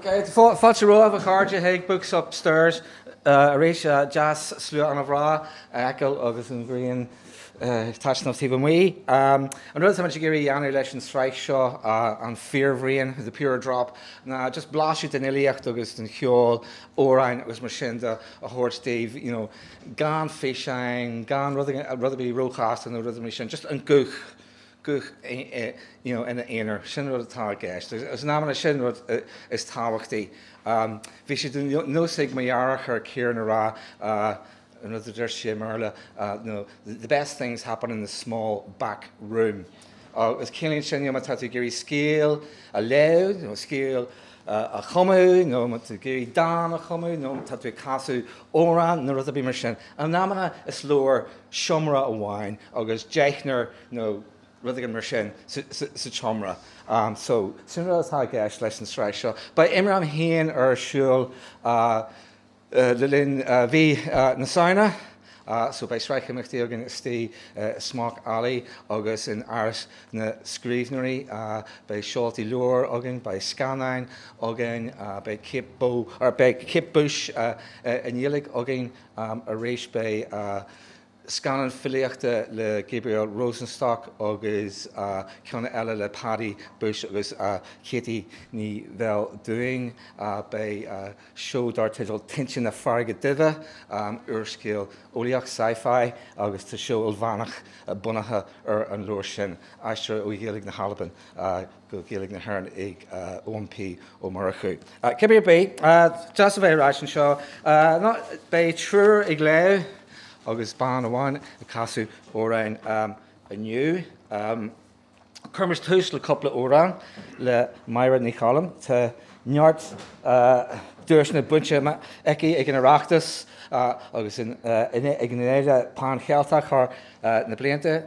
Fáilte romhaibh, a chairde, chuig Books Upstairs arís, deas slua ana bhreá a fheiceáil agus an ghrian taitneamh taobh amuigh. An rud atá muid ag iarraidh a dhéanamh leis an sraith seo, An Fíorbhraon, The Pure Drop, ná just blaiseadh den fhilíocht agus den cheol, amhráin agus mar sin de, a thabhairt daoibh, you know, gan físeáin, gan rud ar bith róchasta nó rudaí mar sin, just an guth, guth you know ina aonar, sin an rud atá i gceist. Agus in amanna sin an rud is tábhachtaí. Bhí sé de nós ag mo dheartháir, Ciaran, a rá, An rud a deir sé i mBéarla ná the best things happen in the small back room agus ciallaíonn sin má tá tú ag iarraidh scéal a léamh nó scéal a chumadh nó má tá tú ag iarraidh dán a chumadh nó má tá tú ag casadh amhrán nó rud ar bith mar sin, in amanna is leor seomra amháin agus deichniúr nó rud éigin mar sin sa tseomra. So, sin rud atá i gceist leis an tsraith seo. Beidh IMRAM féin ar siúl. Le linn mhí na Samhna so beidh sraith imeachtaí againn istigh i Smock Alley agus in Áras na Scríbhneoirí. Beidh seoltaí leabhar againn, beidh scannáin againn, beidh Kate Bo, er, beidh Kate Bush i nGaeilge againn arís, beidh, scannán filíochta le Gabriel Rosenstock agus ceann eile le Paddy Bushe agus Ceaití Ní Bheildiúin. Beidh seó dar teideal Tinte na Farraige Duibhe, úrscéal eolaíoch, sci-fi, agus tá seó ilmheánach bunaithe ar an leabhar sin, aistrithe ó Ghaeilge na hAlban, go Gaeilge na hÉireann ag Eoin P. Ó Murchú. Cibé ar bith, deas a bheith ar ais anseo. Beidh triúr ag léamh agus bean amháin ag casadh amhráin inniu. Cuirimis tús le cúpla amhrán le Máire Ní Choilm. Tá neart duaiseanna bainte aici ag an Oireachtas agus ag an Fhéile Pan Cheilteach thar na blianta.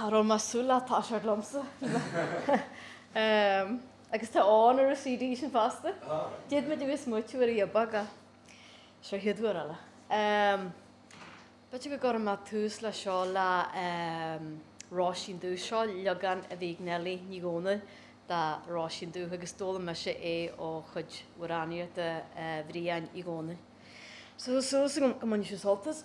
Cha raibh mé súil leat tá sé agamsa agus tá ann ar an CD sin fosta. D'iad muid a bhí smaoitiú ar a dhiob aga. Seo hiad uair eile. B'fhéidir go gcuirfidh mé tús le seo le Róisín Dubh. Seo leagan a bhí ag Neilí Ní Dhomhnaill de Róisín Dubh agus d'fhoghlaim mise é ó chuid amhránaíochta Bhriain Uí Dhomhnaill. Tá súil agam go mbainfidh sibh sult as.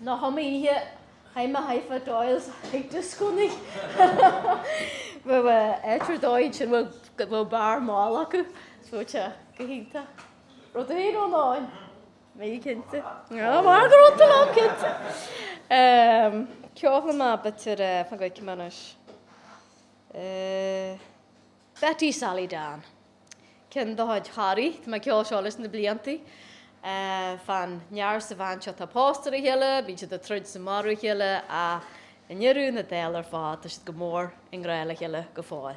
Nó thom oíche, chaith mé Hi-Fi Doyle's ag dioscó na raibh a áit ar dóigh ansin bhfuil go bhfuil beár mall acu, is tá sé go hiontach. Rud ar aon ó an. Níl mé cinnte. Ná habair go raibh tú lán cinnte! Ceolfaidh mé b'fhéidir, eh, fan go bhfeicim anois. Eh. Betty Sally Dan. Ceann de chuid Harry, tá mé ag ceol seo leis na blianta. Eh, fán fhear is an bhean seo atá pósta ar a chéile, bíonn siad ag troid is ag marú a chéile ach i ndeireadh na dála ar fad tá siad go mór i ngrá le chéile go fóill.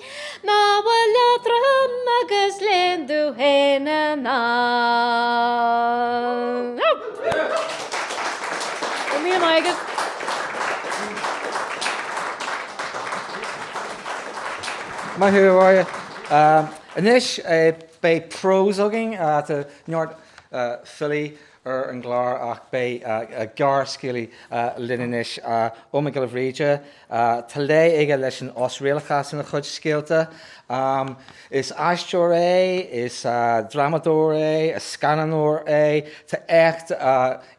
Nach bhfuil leatrom agus léan dú fhéin in ann? Go raibh míle maith agat. Maith thú, a Mháire. Anois beidh prós againn, tá neart filí. ar an gclár ach beidh gearrscéalaí linn anois, Eoghan Mac Giolla Bhríde. Tá lé aige leis an osréalachas ina chuid scéalta. Is aisteoir é, is drámadóir é, is scannánóir é. Tá éacht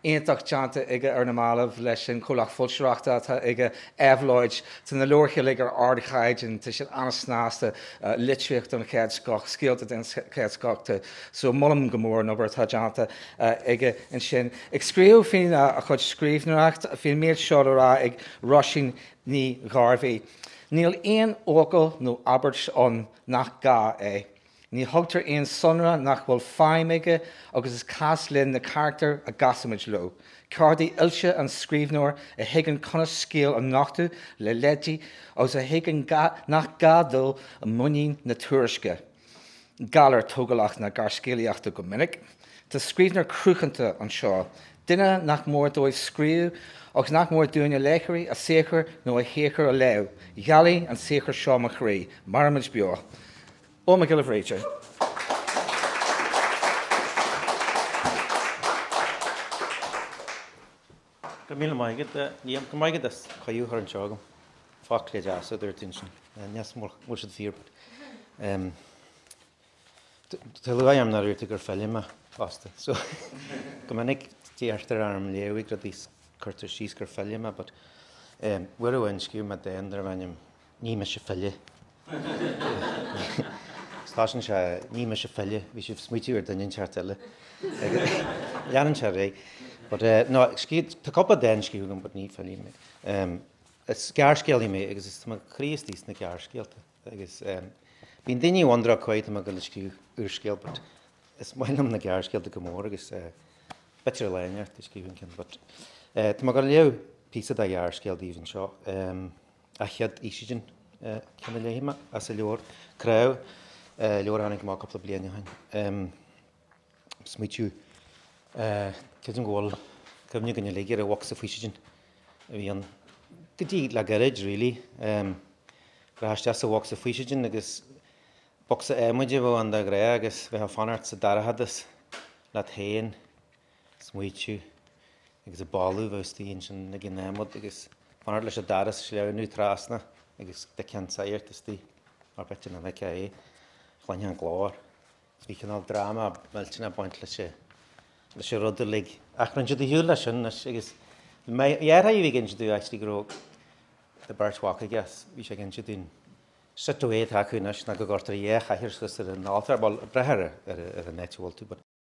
iontach déanta aige ar na mallaibh leis an chomhlacht foilsitheoireachta atá aige, Éabhlóid. Tá na leabhair uilig ar ardchaighdeán, tá siad an-snasta, litríocht den chéad scoth, scéalta den chéad scoth. So molaim go mór an obair atá déanta aige ansin ag scríobh faoina chuid scríbhneoireacht, bhí an méid seo le rá ag Róisín Ní Ghairbhí, Níl aon fhocal nó abairt ann nach gá é. Ní thugtar aon sonra nach bhfuil feidhm aige agus is cás linn na carachtair a gcasaimid leo, ceardaí oilte an scríbhneoir a thuigeann conas scéal a nochtadh le leidí agus a thuigeann nach gá dul i muinín na tuairisce. galar tógálach na gearrscéalaíochta go minic, tá scríbhneoir cruthanta anseo, duine nach mór dóibh scríobh agus nach mór dúinne, léitheoirí, a saothar nó a shaothar a léamh, ghealaigh an saothar seo mo chroí, mairimid beo. Eoghan Mac Giolla Bhríde. Go raibh míle maith agat Liam. Go raibh maith agat as cuireadh a chur anseo chugam. Focla deasa a dúirt tú ansin. Níl a fhios agam an bhfuil siad fíor but ehm tá lúcháir orm nár dhúirt tú gur file mé fosta so go minic iarrtar orm léamh ag rudaí cuirtear síos gur file mé but ehm uair amháin scríobh mé dán darb ainm Ní mise file. Tosaíonn sé, Ní mise file. Bhí sibh ag smaoitiú ar duine inteacht eile. Leanann sé ar aghaidh, But eh, no, scríobh, tá cúpla dán scríofa agam but ní file mé. Em, is gearrscéalaí mé agus is, tá mo chroí istigh sna gearrscéalta agus em, bíonn daoine ag wonder cad é tá mé ag dul a scríobh úrscéal but is maith liom na gearrscéalta go mór agus eh, b'fhéidir lá inteacht go scríobhfainn ceann but eh, tá mé ag dul a léamh píosa de ghearrscéal daoibh anseo. Em. An Chéad Fhaoistin an ceann a léifidh mé as an leabhar Cnámh, leabhar a tháinig amach cúpla bliain ó shin. Smaoitiú, creidim go bhfuil cuimhne againn uilig ar an bhocsa faoistin a bhí ann go dtí le gairid really. Rachfá isteach sa bhocsa faoistin agus bocsa adhmaid a bheadh ann de ghnáth agus bheifeá ag fanacht sa dorchadas leat féin smaoitiú agus an boladh a bheadh istigh ansin ag an adhmad agus fanacht leis an doras sleamhnú trasna agus d'fheicfeá an sagart istigh or b'fhéidir nach bhfeicfeá é, chluinfeá an glór. So bhí cineál drama millteanach ag baint leis an, leis an rud uilig. Ach rinne siad ar shiúl leis sin anois agus mo dheartháir a bhí ag inse domh actually go, tá beirt mhac aige agus, bhí sé ag inse domh an sort of way atá acu anois ná go gcuirtear dhá chathaoir suas ar an altóir, bhuel ag brath ar an, ar an áit a bhfuil tú but,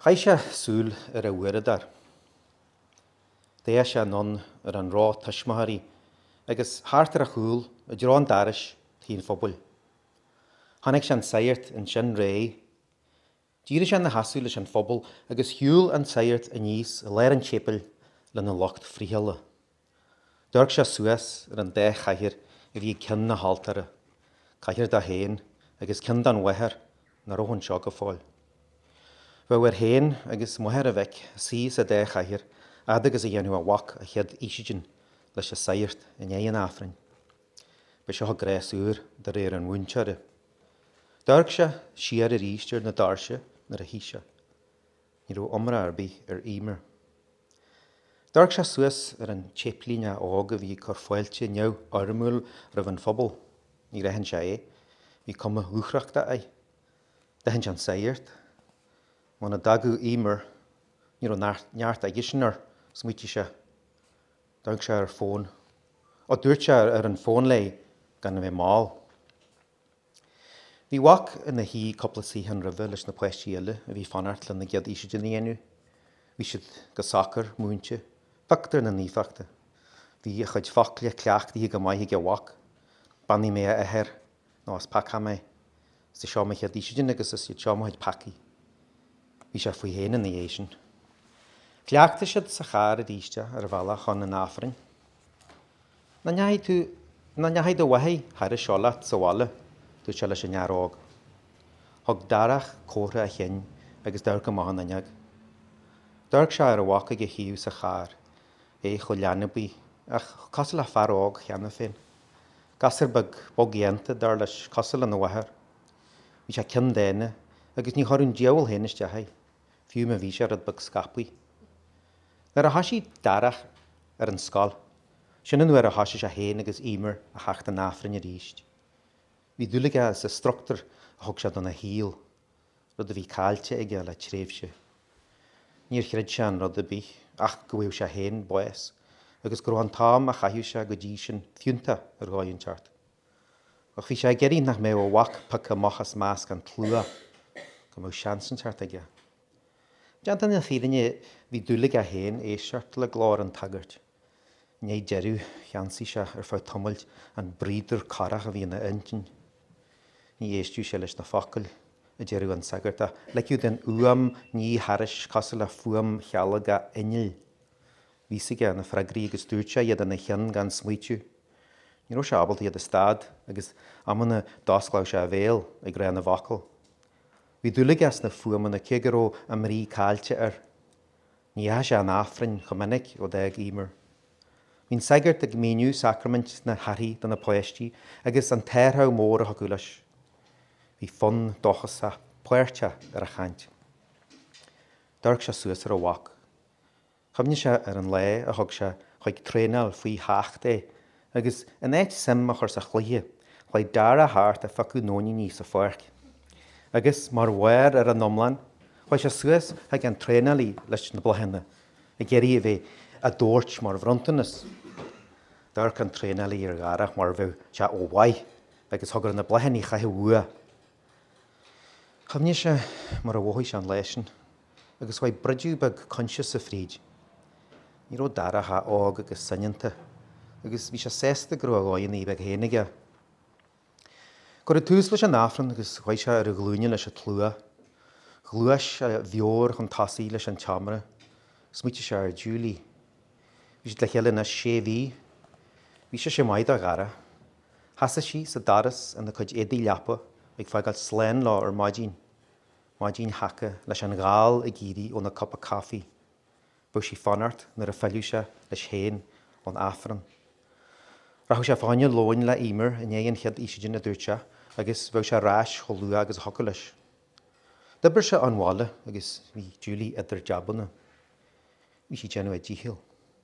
Chaith sé súil ar a uaireadóir. D'fhéach sé anonn ar an ró tuismitheoirí agus thart ar a chúl i dtreo an dorais tí an phobail. Chonaic sé an sagart ansin réidh. D'éirigh sé ina sheasamh leis an phobal agus shiúil an sagart aníos i lár an tséipéil lena lucht friothála. D'amharc sé suas ar an dá chathaoir a bhí ag ceann na haltóra, cathaoir dó féin agus ceann don mháthair nach raibh anseo go fóill. Bheadh air féin agus máthair a mhic suí sa dá chathaoir fhad agus a dhéanfadh a mhac a chéad fhaoistin leis an sagart i ndiaidh an Aifrinn. B'é seo an gnás úr, de réir an mhúinteora. D'amharc sé siar aríst ar na doirse nuair a shuigh sé. Ní raibh iomrá ar bith ar Emer. D'amharc sé suas ar an tséiplíneach óg a bhí ag cur fáilte neamhfhoirmiúil roimh an phobal. Níor aithin sé é. Bhí cuma dhúthrachtach air. D'aithin sé an sagart. Muna dtagadh Emer, ní raibh neart aigesean air, smaoitigh sé. D'amharc sé ar a fhón. Ó, dúirt sé ar an fón léi gan a bheith mall. Bhí a mhac ina shuí cúpla suíochán roimhe leis na páistí eile a bhí ag fanacht lena gcéad fhaoistin a dhéanamh. Bhí siad go socair múinte, pioctúr na naofachta. Bhí a chuid focla cleachtaithe go maith ag a mhac, Beannaigh mé a athair, nó is peacach mé. Is í seo mo chéad fhaoistin agus is iad seo mo chuid peacaí. Bhí sé faoi féin ina dhiaidh sin. Chleachtaigh siad sa charr aríst é ar an bhealach chun an Aifrinn. 'Nach ndeachaigh tú, nach ndeachaigh do mháthair thairis seo leat sa bhaile, dúirt sé leis an fhear óg. Thug Darach comhartha a chinn agus d'amharc amach an fhuinneog. D'amharc sé ar a mhac ag a thaobh sa charr, é chomh leanbaí, ach chomh cosúil le fear óg cheana féin. Gasúr beag bogdhéanta, dar leis, cosúil lena mháthair. Bhí sé ceanndána, agus ní thabharfadh an diabhal féin isteach é. fiú má bhí sé rud beag scaipthe. Nuair a thoisigh Darach ar an scoil, sin an uair a thoisigh sé féin agus Eimear a theacht chun Aifrinn arís. Bhí dúil aige sa struchtúr a thug sé dona shaol, rud a bhí caillte aige le tréimhse. Níor chreid sé in rud ar bith ach go bhfaigheadh sé féin bás agus go raibh an t-am a chaitheadh sé go dtí sin fiúntach ar dhóigh inteacht. Ach bhí sé ag iarraidh nach mbeadh a mhac pioctha amach as measc an tslua, go mbeadh seans inteacht aige. Déanta na fírinne, bhí dúil aige féin éisteacht le glór an tsagairt. I ndiaidh deireadh, cheansaigh sé, ar feadh tamaill, an braodar corrach a bhí ina intinn. Ní éisteadh sé leis na focail a deireadh an sagart, ach ligeadh don fhuaim ní thairis, cosúil le fuaim chealgach innill. Bhí's aige na freagraí agus dúirt sé iad ina cheann gan smaoiteamh. Ní raibh sé ábalta iad a stad agus amanna d'osclaíodh sé a bhéal ag rá na bhfocal. Bhí dúil aige sna fuaimeanna cé go raibh a mbrí caillte air. Ní dheachaigh sé chun Aifrinn chomh minic ó d'fhág Eimear. Bhí an sagart ag míniú sacraimint na haithrí do na páistí agus an t-athrach mór a thiocfadh leis. Bhí fonn dóchasach páirteach ar a chaint. D'amharc sé suas ar a mhac. Chuimhnigh sé ar an lá a thug sé chuig traenáil faoi sheacht é agus, in áit suim a chur sa chluiche, chuaigh Darach thart a phiocadh nóiníní sa pháirc. Agus, mar bharr ar an iomlán, chuaigh sé suas chuig an traenálaí leis na bláthanna ag iarraidh a bheith á dtabhairt mar bhronntanas. D'amharc an traenálaí ar Dharach mar a bheadh sé ó mhaith agus thug air na bláthanna a chaitheamh uaidh. Chuimhnigh sé mar a mhothaigh sé an lá sin agus chuaigh broideadh beag coinsiasa fríd. Ní raibh Darach ach óg agus soineanta agus bhí sé sásta go raibh a dhóigheanna beaga féin aige. Cuireadh tús leis an Aifreann agus chuaigh sé ar a ghlúine leis an tslua. Ghluais a mheabhair chun tosaigh leis an tseomra. Smaoitigh sé ar Julie. Bhí siad le chéile anois sé mhí. Bhí sise maith do Dharach. Sheasaigh sí sa doras ina cuid éadaigh leapa ag fágáil slán leo ar maidin, maidin sheaca leis an ghal ag éirí óna cupa caifí. Bheadh sí ag fanacht nuair a phillfeadh sé leis féin ón Aifreann. Rachadh sé fá choinne lóin le Eimear i ndiaidh an chéad fhaoistin, a dúirt sé, agus bheadh sé ar ais chomh luath agus a thiocfadh leis. D'oibir sé ón bhaile agus bhí Julie idir jabanna. Bhí sí ag déanamh a díchill.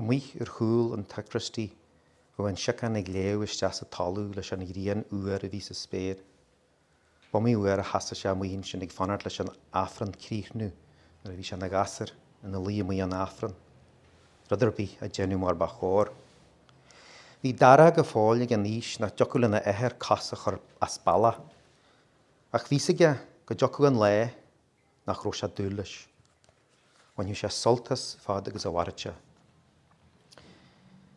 Amuigh ar chúl an tsacraistí bhí an siocán ag leá isteach sa talamh leis an ghrian fhuar a bhí sa spéir. B'iomaí uair a sheasaigh sé amuigh ansin ag fanacht leis an Aifreann críochnú nuair a bhí sé ina ghasúr, ina luí amuigh ón Aifreann. Rud ar bith ach déanamh mar ba chóir. Bhí Dara go fóill ag an aois nach dtiocfadh lena athair cos a chur as bealach. Ach bhí's aige go dtiocfadh an lá nach raibh sé ag dúil leis. Bhainfeadh sé sult as fad agus a mhairfeadh sé.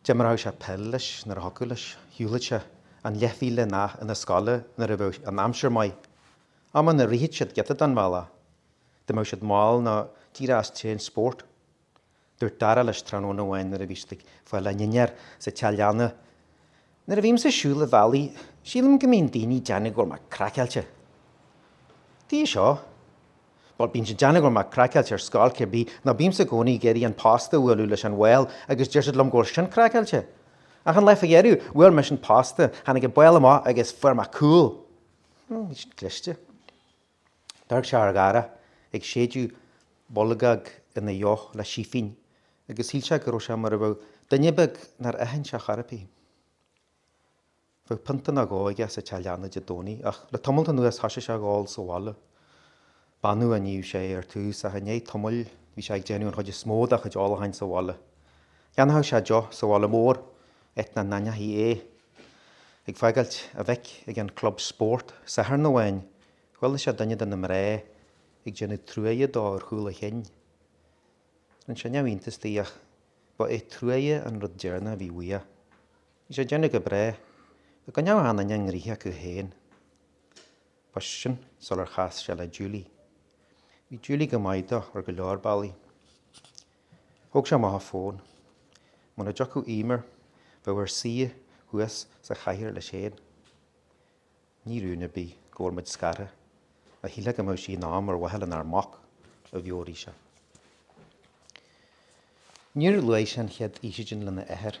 D'imreodh sé peil leis nuair a thiocfadh leis, shiúlfadh sé an leathmhíle amach chun na scoile nuair a bheadh an aimsir maith. Amanna, rithfeadh siad giota den bhealach dá mbeadh siad mall nó díreach as tréan spóirt. Dúirt Dara leis tráthnóna amháin nuair a bhí siad ag fáil a ndinnéar sa teach leanna, Nuair a bhímse ag siúl an bhealaigh, sílim go mbíonn daoine ag déanamh go bhfuil mé craiceáilte. Tuige seo? Bhuel, bíonn siad ag déanamh go bhfuil mé craiceáilte ar scoil cibé ar bith, nó bímse i gcónaí ag iarraidh an posta a bhualadh leis an bhál agus deir siad liom go bhfuil sin craiceáilte. Ach an lá fá dheireadh, bhuail mise an posta, tháinig an bál amach agus fuair mé cúl. Bhí sin cliste. D'amharc sé ar Dhara ag séideadh bolgóg ina dheoch le sífín agus shíl sé go raibh sé mar a bheadh duine beag nár aithin sé chor ar bith. Bheadh pionta nó dhó aige sa teach leanna Dé Domhnaigh, ach le tamalt anuas thoisigh sé ag ól sa bhaile. B'annamh a níodh sé é ar tús, ach i ndiaidh tamaill bhí sé ag déanamh an chuid is mó dá chuid ólacháin sa bhaile. Cheannódh sé deoch sa bhaile mór, áit nach n-aithneofaí é. ag fágáilt a mhic ag an gclub spórt Satharn amháin, chuala sé duine de na mná ag déanamh truaighe dó ar chúl a chinn. Rinne sé neamhiontas di, ach ba é truaighe an rud deireanach a bhí uaidh. Bhí sé ag déanamh go breá, ach go neamhghlan ina ngnoithe acu féin. Ba sin sular chas sé le Julie. Bhí Julie go maith dó ar go leor bealaí. Thóg sé amach an fón. Muna dtiocfadh Emer, bheadh air suí thuas sa chathaoir leis féin. Ní rún ar bith go bhfuil muid scartha, ach shílfeá go mbeadh sí in am ar mhaithe lenár mac, a mheabhraigh sé. Níor luaigh sé an chéad fhaoisidin lena athair.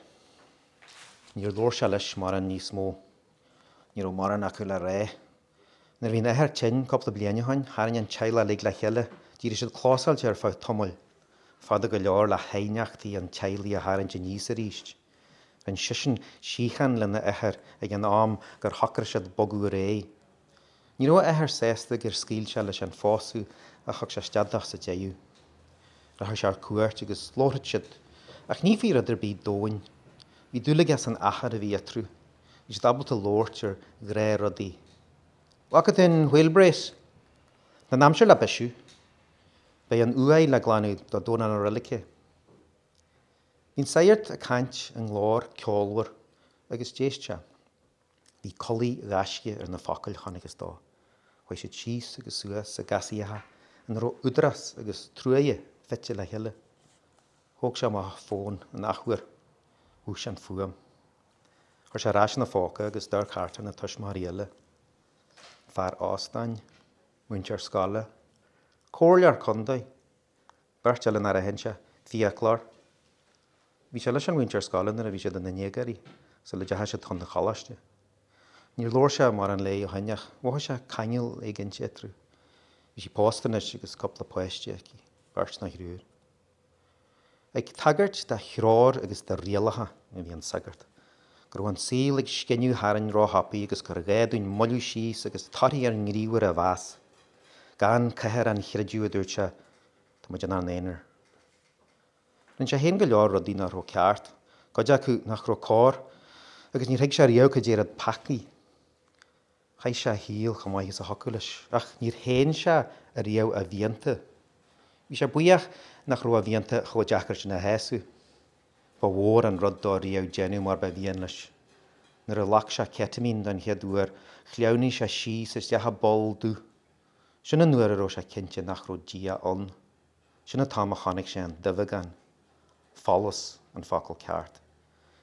Níor labhair sé leis mórán níos mó. Ní raibh mórán acu le rá. Nuair a bhí an athair tinn cúpla bliain ó shin, tharraing an teaghlach uilig le chéile. D'éirigh siad clósáilte ar feadh tamaill, fada go leor le haighneachtaí an teaghlaigh a tharraingt aníos arís. Rinn seisean síocháin lena athair ag an am gur shocraigh siad bogadh ar aghaidh. Ní raibh a athair sásta gur scaoil sé leis an phósadh ach thug sé isteach sa deireadh. Rachadh sé ar cuairt agus labharfadh siad, ach ní faoi rud ar bith domhain. Bhí dúil aige san achar a bhí eatarthu. Is iad ábalta labhairt ar ghnáthrudaí. Bhfaca tú an wheel brace? Tá an aimsir le bisiú. Beidh an uaigh le glanadh do Dhomhnach na Reilige. Bhí an sagart ag caint i nglór ceolmhar agus d'éist sé. Bhí culaith ghaisce ar na focail, chonacthas dó. Chuaigh siad síos agus suas i gcasaíocha ina raibh údarás agus truaighe fite le chéile. Thóg sé amach an fón an athuair. Mhúch sé an fuaim. Chuir sé ar ais ina phóca agus d'amharc thart ar na tuismitheoirí eile, fear óstáin, múinteoir scoile, comhairleoir contae, beirt eile nár aithin sé, fiaclóir. Bhí sé leis an mhúinteoir scoile nuair a bhí siad ina ndéagóirí, sula ndeachaigh siad chun an choláiste. Níor labhair sé mórán léi ó shin ach mhothaigh sé ceangal éigin eatarthu. Bhí sí pósta anois agus cúpla páiste aici, beirt nó thriúr. Ag tagairt dá threoir agus dá rialacha a bhí an sagart, go raibh an saol ag scinneadh tharainn róthapaidh agus gur ghá dúinn moilliú síos agus torthaí ár ngníomhartha a mheas. Gan cabhair an chreidimh, a dúirt sé, tá muid inár n-aonar. Rinne sé féin go leor rudaí nach raibh ceart, cuid acu nach raibh cóir, agus níor thuig sé riamh cad é an rud peacaí. Chaith sé a shaol chomh maith is a thiocfadh leis, ach níor shéan sé ariamh a mhianta. Bhí sé buíoch nach raibh a mhianta chomh deacair sin a shásamh. Ba mhór an rud dó riamh déanamh mar ba mhian leis. Nuair a ghlac sé ketamine don chéad uair, shleamhnaigh sé síos isteach i bpoll dubh. Sin an uair a raibh sé cinnte nach raibh Dia ann. Sin an t-am a chonaic sé an duibheagán, folús an focal ceart.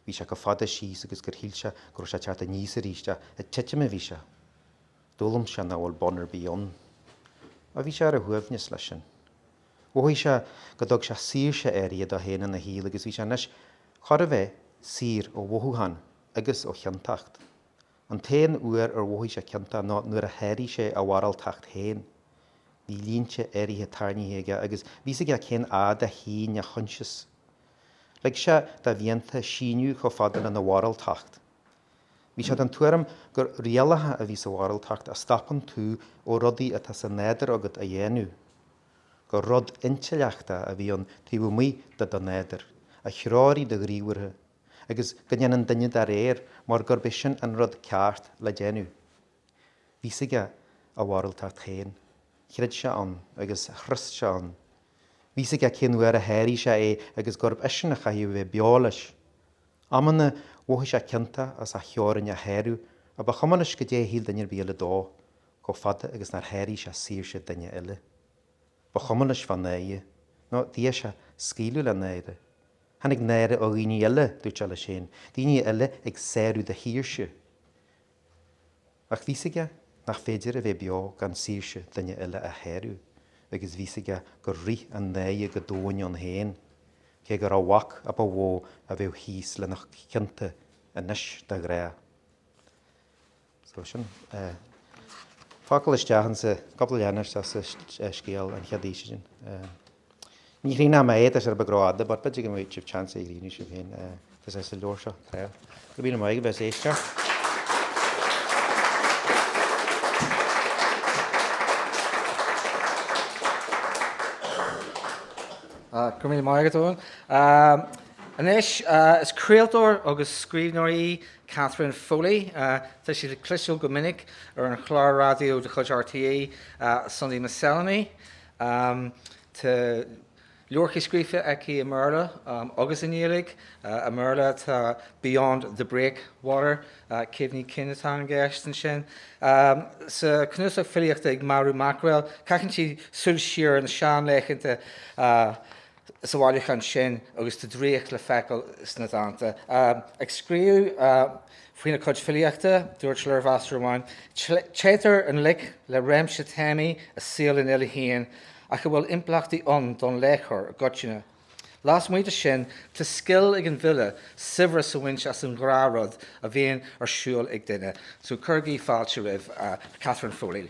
Bhí sé chomh fada síos agus gur shíl sé go raibh sé ag teacht aníos arís, ach ag titim a bhí sé. D'fhoghlaim sé nach bhfuil bun ar bith ann. Ach bhí sé ar a shuaimhneas leis sin. Mhothaigh sé go dtug sé saoirse áirithe dó fhéin ina shaol agus bhí sé anois chóir a bheith saor ó mhothúcháin agus ó chiontacht. An t-aon uair ar mhothaigh sé ciontach ná nuair a sháraigh sé a mhoráltacht féin. Bhí línte áirithe tarraingthe aige agus bhí 'fhios aige cén fhad a shín a choinsias. Lig sé dá mhianta síneadh chomh fada lena mhoráltacht. Bhí sé den tuairim gur rialacha a bhí sa mhoráltacht a stopann tú ó rudaí atá sa nádur agat a dhéanamh, gur rud intleachta a bhí ann taobh amuigh de do nádur, a threoraigh do ghníomhartha. agus go ndéanann duine dá réir mar gurb é sin an rud ceart le déanamh. Bhí 'fhios aige a mhoráltacht féin. Chreid sé ann agus thrust sé ann. Bhí 'fhios aige cén uair a sháraigh sé é agus gurb eisean a chaithfeadh a bheith beo leis. Amanna mhothaigh sé ciontach as a theorainn a shárú ach ba chuma leis goidé a shíl duine ar bith eile dó, chomh fada agus nár sháraigh sé saoirse duine eile. Ba chuma leis fá náire, nó d'fhéadfadh sé scaoileadh le náire. Tháinig náire ó dhaoine eile, dúirt sé leis féin, daoine eile ag sárú do shaoirse. Ach bhí's aige nach féidir a bheith beo gan saoirse duine eile a shárú, agus bhí's aige gur rith an náire go doimhin ann féin, cé gurbh é a mhac ba mhó a bheadh thíos lena chionta anois de ghrá. So sin. Focal isteach ansan, cúpla leathanach sa scéal an chéad fhís sin. Ní chríonnaim a fhéatas ar ba ghrá fhada, but b'fhéidir go mbeidh sibh chance a ghríniú sibh féin, tusa as an leabhar seo, Claire. Go míle maith agaibh as éisteacht. Go míle maith agat Eoghan. Anois is craoltóir agus scríbhneoir í Catherine Foley, tá sí le cloisteáil go minic ar an chlár raidió de chuid RTÉ, Sunday Miscellany. Tá leabhartha scríofa aici i mBéarla agus i nGaeilge. I mBéarla tá Beyond the Breakwater, Cuimhní Cinn atá i gceist ansin. Sa chnuasach filíochta Ag Marú Maicréal caitheann sí súil siar ar na seanlaethanta. sa bhailiúchán sin agus tá draíocht le feiceáil sna dánta. Ag scríobh faoina cuid filíochta, dúirt léirmheastóir amháin, 'Téitear i ngleic le réimse téamaí i saol an fhile féin ach a bhfuil impleachtaí ann don léitheoir i gcoitinne. Lasmuigh de sin, tá scil ag an bhfile saibhreas a bhaint as an ngnáthrud a bhíonn ar siúl ag duine'. So cuirigí fáilte roimh Catherine Foley.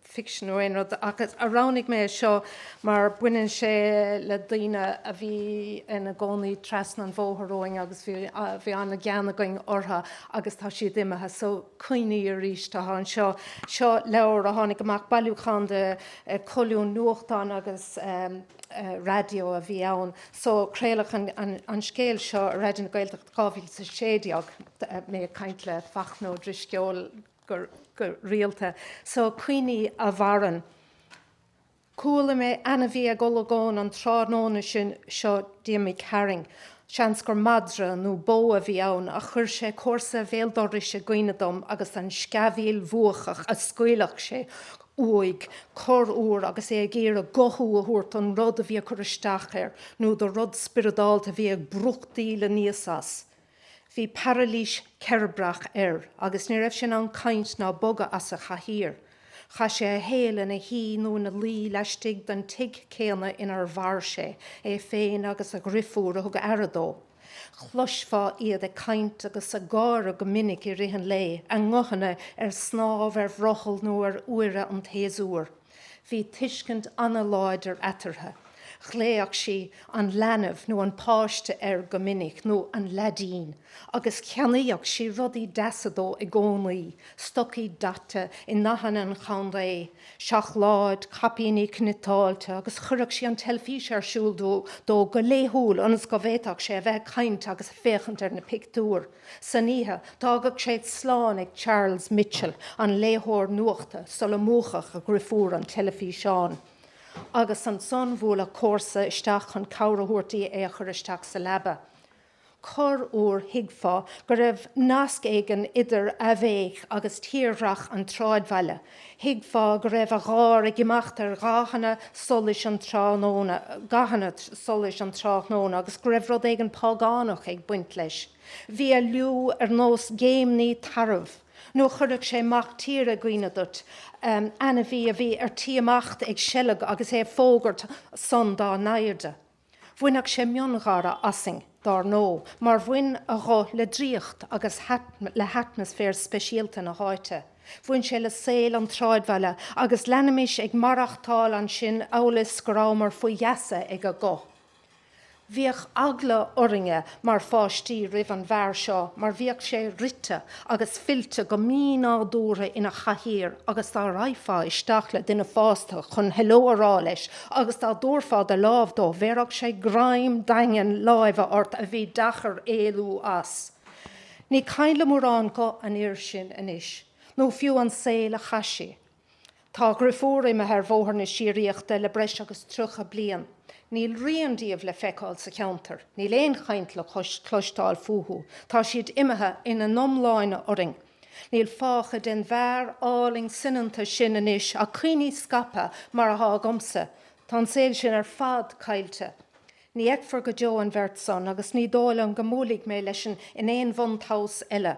fiction nó aon rud ach roghnaigh mé é seo mar baineann sé le daoine a bhí ina gcónaí trasna an bhóthair uainn agus bhí, bhí an-ghean againn orthu agus tá siad imithe so cuimhne arís atá anseo. Seo leabhar a tháinig amach, bailiúchán de cholúin nuachtáin agus raidió a bhí ann so craoladh an scéal seo ar Raidió na Gaeltachta 2016, mé ag caint le Fachtna Ó Drisceoil, go rialta, so cuimhní a mhaireann. Chuala mé ainmhí ag olagón an tráthnóna sin seo d'imigh tharainn, seans gur madra nó bó a bhí ann, ach chuir sé comharsa bhéal dorais i gcuimhne dom agus an sceamhaíl bhuacach a scaoilfeadh sé uaidh corr uair agus é ag iarraidh guthú a thabhairt don rud a bhí ag cur isteach air nó do rud spioradálta a bhí ag brúchtaíl aníos as. Bhí parailís cheirbreach air agus ní raibh sé in ann caint ná bogadh as a chathaoir. Chaith sé a shaol ina shuí nó ina luí laistigh den tigh céanna inar mhair sé, é féin agus a dhriofúr a thug aire dó. Chloisfeá iad ag caint agus ag gáire go minic i rith an lae, a nguthanna ar snámh ar bhrothall nó ar fhuaire an tséasúir. Bhí tuiscint ana-láidir eatarthu. Ghlaofadh sí 'an leanbh' nó 'an páiste' air go minic, nó 'an leaidín', agus cheannaíodh sí rudaí deasa dó i gcónaí, stocaí daite i ndathanna an chontae, seacláid, caipíní cniotáilte, agus chuireadh sí an teilfís ar siúl dó go laethúil ionas go bhféadfadh sé a bheith ag caint agus ag féachaint ar na pictiúir. Istoíche, d'fhágadh sé slán ag Charles Mitchel, an léitheoir nuachta, sula múchadh a dhriofúr an teilifíseán, agus ansan bhuaileadh comharsa isteach chun cabhair a thabhairt di é a chur isteach sa leaba. Corr uair thuigfeá go raibh nasc éigin idir Avey agus tírdhreach an tsráidbhaile, Thuigfeá go raibh a gháir ag imeacht ar ghathanna solais an tráthnóna, gathanna solais an tráthnóna, agus go raibh rud éigin págánach ag baint leis. Bhí a liú ar nós géimní tarbh, nó chuirfeadh sé mac tíre i gcuimhne duit, ainmhí a bhí ar tí imeacht ag seilg agus é ag fógairt san dá naimhde. Bhaineadh sé miongháire asainn, dár ndó, mar bhain a ghuth le draíocht agus le hatmaisféar speisialta na háite. Bhain sé le saol an tsráidbhaile agus leanaimis ag maireachtáil ansin amhail 's go rabhamar faoi gheasa ag a ghuth. Bhíodh eagla orainne mar pháistí roimh an bhfear seo mar bhíodh sé rite agus fillte go mínádúrtha ina chathaoir agus dá raghfá isteach le duine fásta chun heileo a rá leis agus dá dtabharfá do lámh dó bhéarfadh sé greim daingean láimhe ort a bhí deacair éalú as. Ní cuimhin le mórán guth an fhir sin anois, nó fiú an saol a chaith sé. Tá a dhriofúr imithe ar bhóthar na síoraíochta le breis agus tríocha bliain. Níl rian díobh le feiceáil sa cheantar, níl aon chaint le cloisteáil fúthu, tá siad imithe ina n-iomláine orainn. Níl fágtha den bhfear álainn soineanta sin anois ach cuimhní scaipthe mar atá agamsa. Tá an saol sin ar fad caillte. Ní fheicfear go deo an bheirt san agus ní dóigh liom go mbuailfidh mé leis in aon bhun-tomhas eile.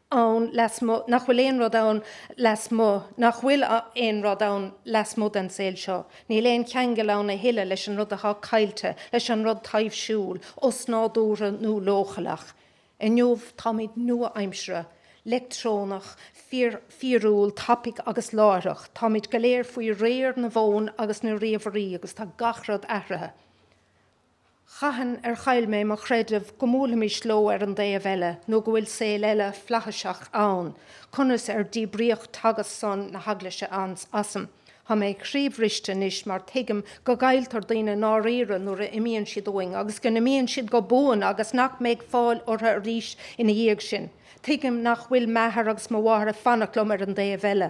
ann lasmuigh, nach bhfuil aon rud ann lasmuigh, nach bhfuil aon rud ann lasmuigh den saol seo, níl aon cheangal ann a thuilleadh leis an rud atá caillte, leis an rud taibhsiúil, osnádúrtha nó leochaileach. Inniu táimid nua-aimseartha, leictreonach, fíorúil, tapaigh agus láithreach, táimid go léir faoi réir na bhfón agus na ríomhairí agus tá gach rud athraithe. Cathain ar chaill mé mo chreideamh go mbuailfimis leo ar an dtaobh eile nó go bhfuil saol eile flaithiseach ann, conas ar díbríodh teagasc san na hEaglaise asam? Tá mé croíbhriste anois mar tuigim go gcailltear daoine i ndáiríre nuair a imíonn siad uainn agus go n-imíonn siad go buan agus nach mbeidh fáil orthu arís ina dhiaidh sin. Tuigim nach bhfuil m'athair agus mo mháthair ag fanacht liom ar an dtaobh eile.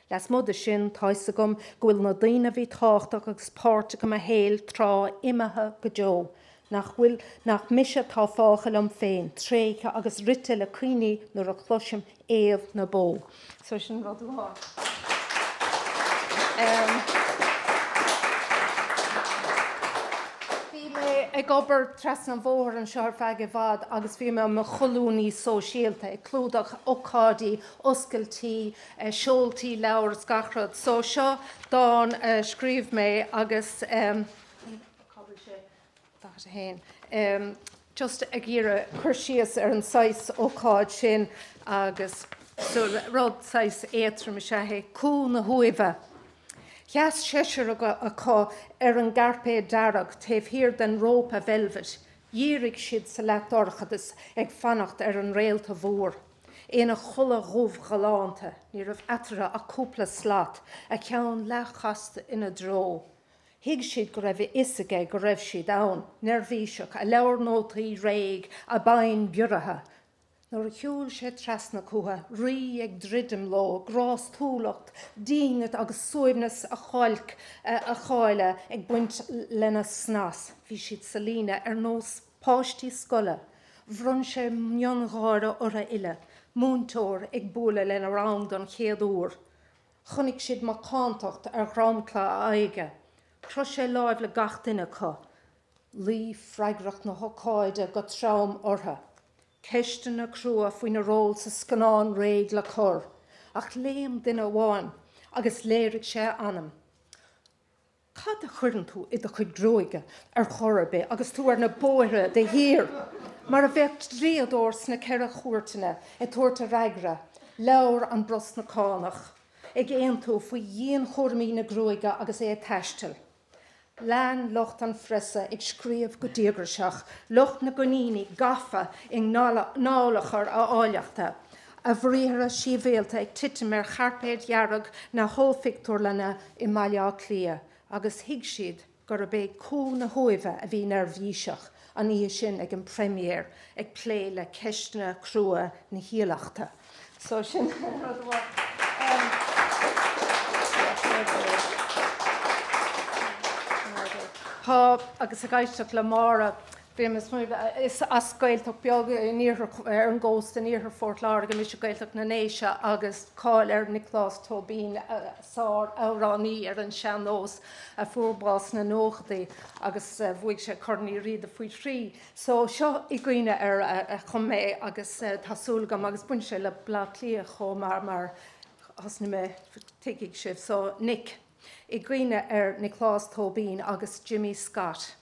Lasmuigh de sin, tá 'fhios agam go bhfuil na daoine a bhí tábhachtach agus páirteach i mo shaol tráth imithe go deo, nach bhfuil, nach mise atá fágtha liom féin, tréigthe agus rite le cuimhne nuair a chloisim éamh na bó. So sin rud amháin. Bhí mé ag obair trasna an bhóthair anseo ar feadh i bhfad agus bhí mé i mo cholúnaí sóisialta, ag clúdach ócáidí, oscailtí, seoltaí leabhar is gach rud. So seo dán a scríobh mé agus ehm cad é 41 ehm just ag iarraidh cur síos ar an saghas ócáid sin agus so rud saghas éadtrom is ea é, Cú na hUaimhe. Sheas seisear acu ar an gcairpéad dearg taobh thiar den rópa veilbhit. Dhírigh siad sa leathdhorchadas ag fanacht ar an réalta mhór. ina chulaith dhubh ghalánta, ní raibh eatarthu ach cúpla slat, a cheann leathchasta ina dtreo. Thuig siad go raibh a fhios aige go raibh siad ann. Neirbhíseach, a leabhair nótaí réidh, a bpinn bioraithe. Nuair a shiúil sé trasna chucu, rí ag druidim leo, grástúlacht, dínit agus suaimhneas a cháil, a cháile ag baint lena snas, bhí siad sa líne ar nós páistí scoile, bhronn sé miongháire orthu uile, múinteoir ag bualadh lena rang don chéad uair, chonaic siad macántacht ar dhromchla a aghaidhe, chroith sé láimh le gach duine acu, luigh freagracht na hócáide go trom orthu, ceisteanna crua faoina ról sa scannán réidh le cur, ach léim duine amháin agus léirigh sé a anam. Cad a chuireann tú i do chuid gruaige ar chor ar bith agus tú ar na bóithre de shíor? Mar a bheadh dlíodóir sna Ceithre Chúirteanna ag tabhairt a fhreagra, labhair an Brosnachánach, ag aontú faoi dhianchúraimí na gruaige agus é ag taisteal. Lean lucht an phreasa ag scríobh go díograiseach, lucht na gcoiníní gafa i ndallachar a áilleachta, a bhriathra síbhialta ag titim ar chairpéad dearg na hollphictiúrlainne i mBaile Átha Cliath agus thuig siad gurb é Cú na hUaimhe a bhí neirbhíseach an oíche sin ag an bpremiere ag plé le ceisteanna crua na háilleachta. So sin an rud a bhfuil. Tá, agus ag éisteacht le Máire, Bímis linn. Is as Gaeltacht bheag ar an gcósta in iarthar Phort Láirge mise, Gaeltacht na nDéise, agus tá cáil ar Nioclás Tóibín, sár-amhránaí ar an sean-nós a fuair bás sna nóchaidí agus bhuaigh sé Corn Uí Riada faoi thrí. So, seo i gcuimhne air a chum mé agus tá súil agam, agus baineann sé le Bleá Cliath chomh maith mar thosnaigh mé, tuigfidh sibh. So, Nic. i gcuimhne ar Nioclás Tóibín agus Jimmy Scott.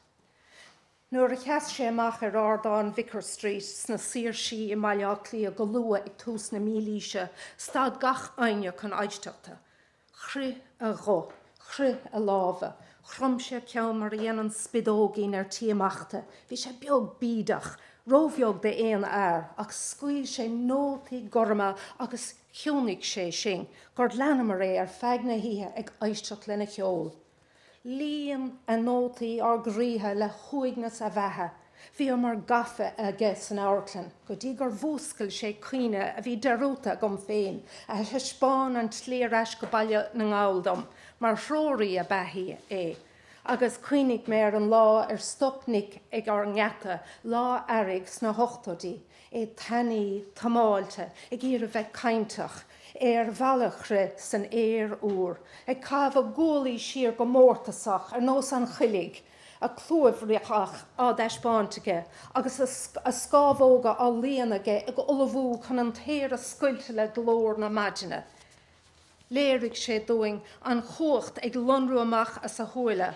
Nuair a sheas sé amach ar ardán Vicar Street sna Saoirsí i mBaile Átha Cliath go luath ag tús na mílaoise, stad gach éinne chun éisteachta. Chroith a ghuth. Chroith a lámha. Chrom sé a cheann mar a dhéanann spideoigín ar tí imeachta. Bhí sé beag bídeach. Róbheag d'aon fhear. Ach scaoil sé nótaí gorma agus chiúnaigh sé sinn gur leanamar é ar feadh na hoíche ag éisteacht lena cheol. Líon a nótaí ár gcroíthe le huaigneas a bheatha. Bhíomar gafa aige san amharclann go dtí gur mhúscail sé cuimhne a bhí dearúdta agam féin, a thaispeáin an tslí ar ais go Baile na nGall dom, mar threoraí ab ea é. Agus chuimhnigh mé ar an lá ar stop Nick ag ár ngeata, lá earraigh sna hochtóidí, é tanaí, támáilte, ag iarraidh bheith cainteach, ar ballchrith san aer úr, ag caitheamh a ghuaillí siar go mórtasach ar nós an choiligh, a chlúimhreach á dtaispeáint aige agus a scámhóga á líonadh aige ag ullmhú chun an t-aer a scoilteadh le glór na maidine. Léirigh sé dúinn an chumhacht ag lonrú amach as a shúile.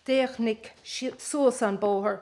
D'fhéach Nic suas an bóthar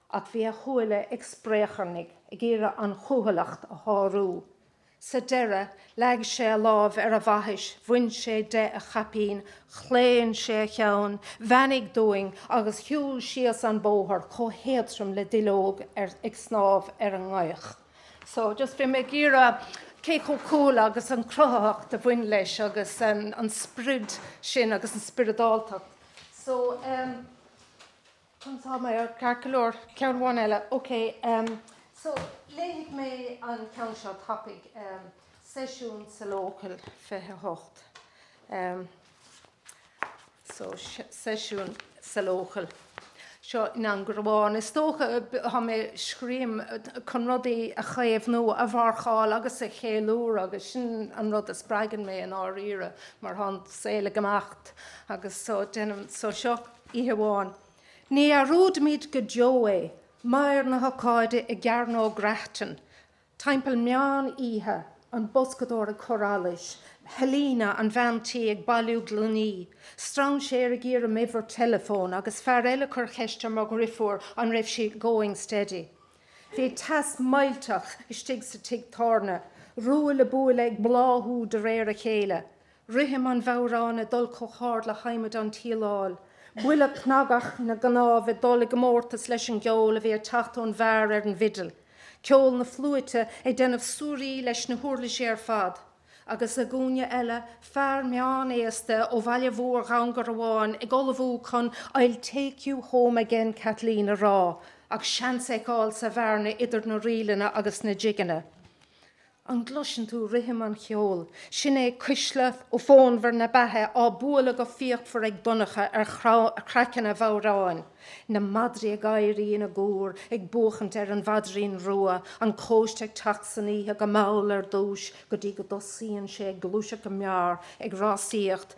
Ach bhí a shúile ag spréacharnaigh ag iarraidh an chúthaileacht a shárú. Sa deireadh, leag sé a lámh ar a bhaithis, bhain sé de a chaipín, chlaon sé a cheann, bheannaigh dúinn agus shiúil síos an bóthar chomh héadtrom le duilleog ag snámh ar an ngaoth. So, just bhí mé ag iarraidh cé chomh cúthail agus an cruthaitheacht a bhain leis agus an sprid sin agus an spioradáltacht. So, ehm. Tá mé ceart go leor. Ceann amháin eile. Ok, so léifidh mé an ceann seo tapaidh, seisiún sa Local 28. So seisiún sa Local. Seo i nDún Garbhán. Is dócha tá mé ag scríobh chun rudaí a chaomhnú, a mharcáil agus a cheiliúradh agus sin an rud a spreagann mé i ndáiríre mar tá an saol ag imeacht agus so déanaim, so seo. Oíche amháin, ní dhearúdfaimid go deo é, meidhir na hócáide i gCearnóg Grattan, timpeall meán oíche, an boscadóir ag cur allais, Helena, an bhean tí, ag bailiú gloiní, strainséir ag iarraidh m'uimhir teileafóin agus fear eile ag cur cheist ar mo dhriofúr an raibh sí 'going steady'. Bhí teas millteach istigh sa tigh tábhairne, ruaille buaille ag bláthú de réir a chéile, rithim an bhodhráin ag dul chomh hard le hadhmad an tsíleáil, buille cnagach na gcnámh ag dul i gcomórtas leis an gceol a bhí ag teacht ón bhfear ar an bhfidil, ceol na fliúite ag déanamh suirí leis na huirlisí ar fad, agus i gcúinne eile, fear meán-aosta ó bhaile mhór Dhún Garbhán ag ullmhú chun 'I'll take you home again Kathleen' a rá, ach seans a fheiceáil sa bhearna idir na ríleanna agus na jigeanna. An gcloiseann tú rithim an cheoil? Sin é cuisle, ó, fonnmhar na beatha á bualadh go fíochmhar ag Donncha ar chraiceann a bhodhráin. Na madraí ag éirí ina gcúr, ag buachaint ar an mhaidrín rua, an cóiste ag teacht san oíche go mall ar dtús go dtí go dtosaíonn sé ag gluaiseacht go mear, ag rásaíocht,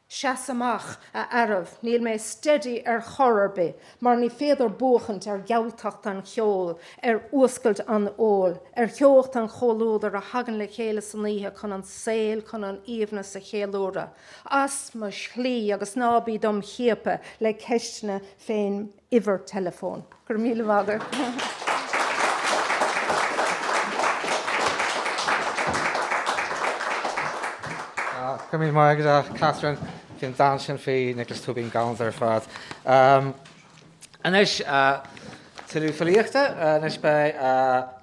Seas amach, a fhearaibh, níl mé steady ar chor ar bith, mar ní féidir buachaint ar ghealtacht an cheoil, ar fhuascailt an óil, ar theocht an chomhluadair a thagann le chéile san oíche chun an saol, chun an aoibhneas a cheiliúradh. As mo shlí agus ná bí dom chiapadh le ceisteanna fén uimhir teileafóin. Go raibh míle maith agat. Go raibh míle maith agat, a Catherine. Bhí an dán sin faoi Nioclás Tóibín galánta ar fad. Anois, tuilleadh filíochta. Anois beidh,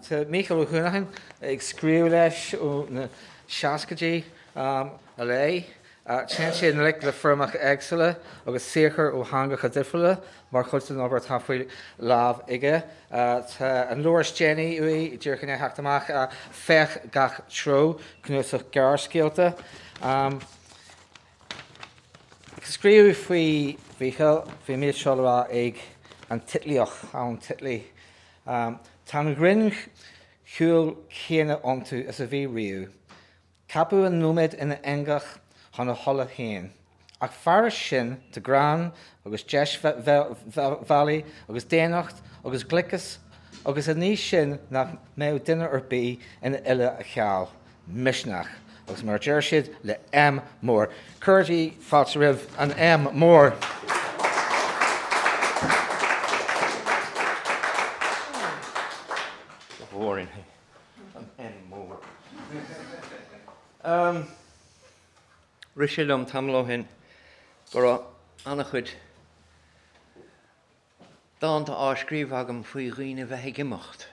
tá Mícheál Ó hUanacháin ag scríobh leis ó na seascaidí i leith. Téann sé i ngleic le foirmeacha éagsúla agus saothair ó theangacha difriúla mar chuid den obair atá faoi lámh aige. Tá an leabhar is déanaí uaidh, díreach i ndiaidh theacht amach, Féach Gach Treo, cnuasach gearrscéalta. Ag scríobh faoi Mhícheál, bhí an méid seo le rá ag an Titlíoch, Alan Titley, Tá an ghrinntsúil chéanna iontu is a bhí riamh. Ceapadh an nóiméad ina eangach chun a thola féin, ach fairis sin, tá greann agus deisbhealaí agus daonnacht agus gliceas agus an ní sin nach mbeadh duine ar bith ina fhile á cheal, misneach, agus mar a deir siad le M mór, cuirigí fáilte roimh an M mór! An M mór. Em. Rith sé liom tamall ó shin go raibh an-chuid dánta á scríobh agam faoi dhaoine a bheith ag imeacht,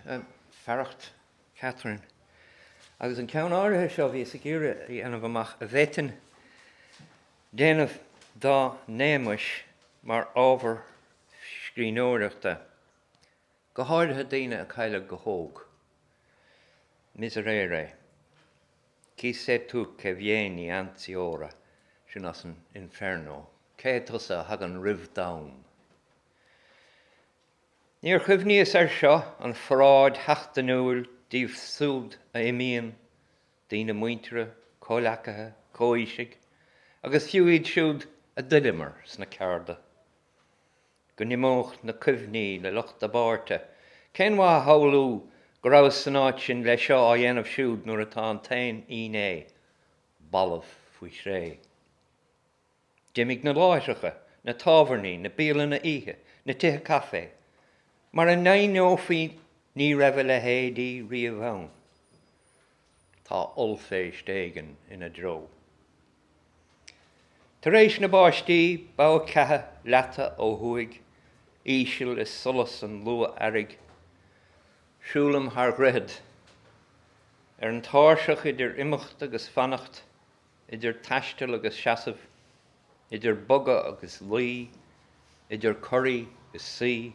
fearacht Catherine. Agus an ceann áirithe seo, bhíos ag iarraidh a dhéanamh amach a bhféadfainn déanamh dá n-éamais mar ábhar scríbhneoireachta. go háirithe daoine a cailleadh go hóg. Miserere, chi sei tu che vieni anzi ora, sin as an Inferno, cé hé tusa a thagann roimh d'am? Níor chuimhníos air seo, an pharáid sheachtainiúil díobh siúd a imíonn, daoine muinteartha, comhleacaithe, comhaoisigh, agus fiú iad siúd a d'oileamar sna cearda. go n-imeodh na cuimhní le lucht a bpáirte. Cén mhaith a shamhlú go rabhas san áit sin leis seo á dhéanamh siúd nuair atá an t-aon fhínné balbh faoi chré? D'imigh na láithreacha, na tábhairní, na bialanna oíche, na tithe caife mar a n-aithneofaí. Ní raibh a leithéidí riamh ann. Tá ollphéist éigin ina dtreo. Tar éis na báistí, bogha ceatha leata ó thuaidh íseal i solas an luath-earraigh. Siúlaim thar dhroichead. Ar an tairseach idir imeacht agus fanacht, idir taisteal agus seasamh, idir bogadh agus luí, idir corraí is suí,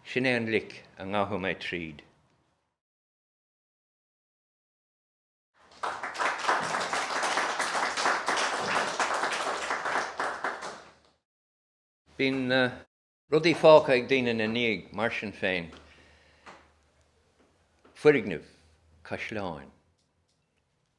sin é an lic a ngabhfaidh mé tríd. Bíonn rudaí fágtha ag daoine ina ndiaidh, mar sin féin, foirgnimh, caisleáin,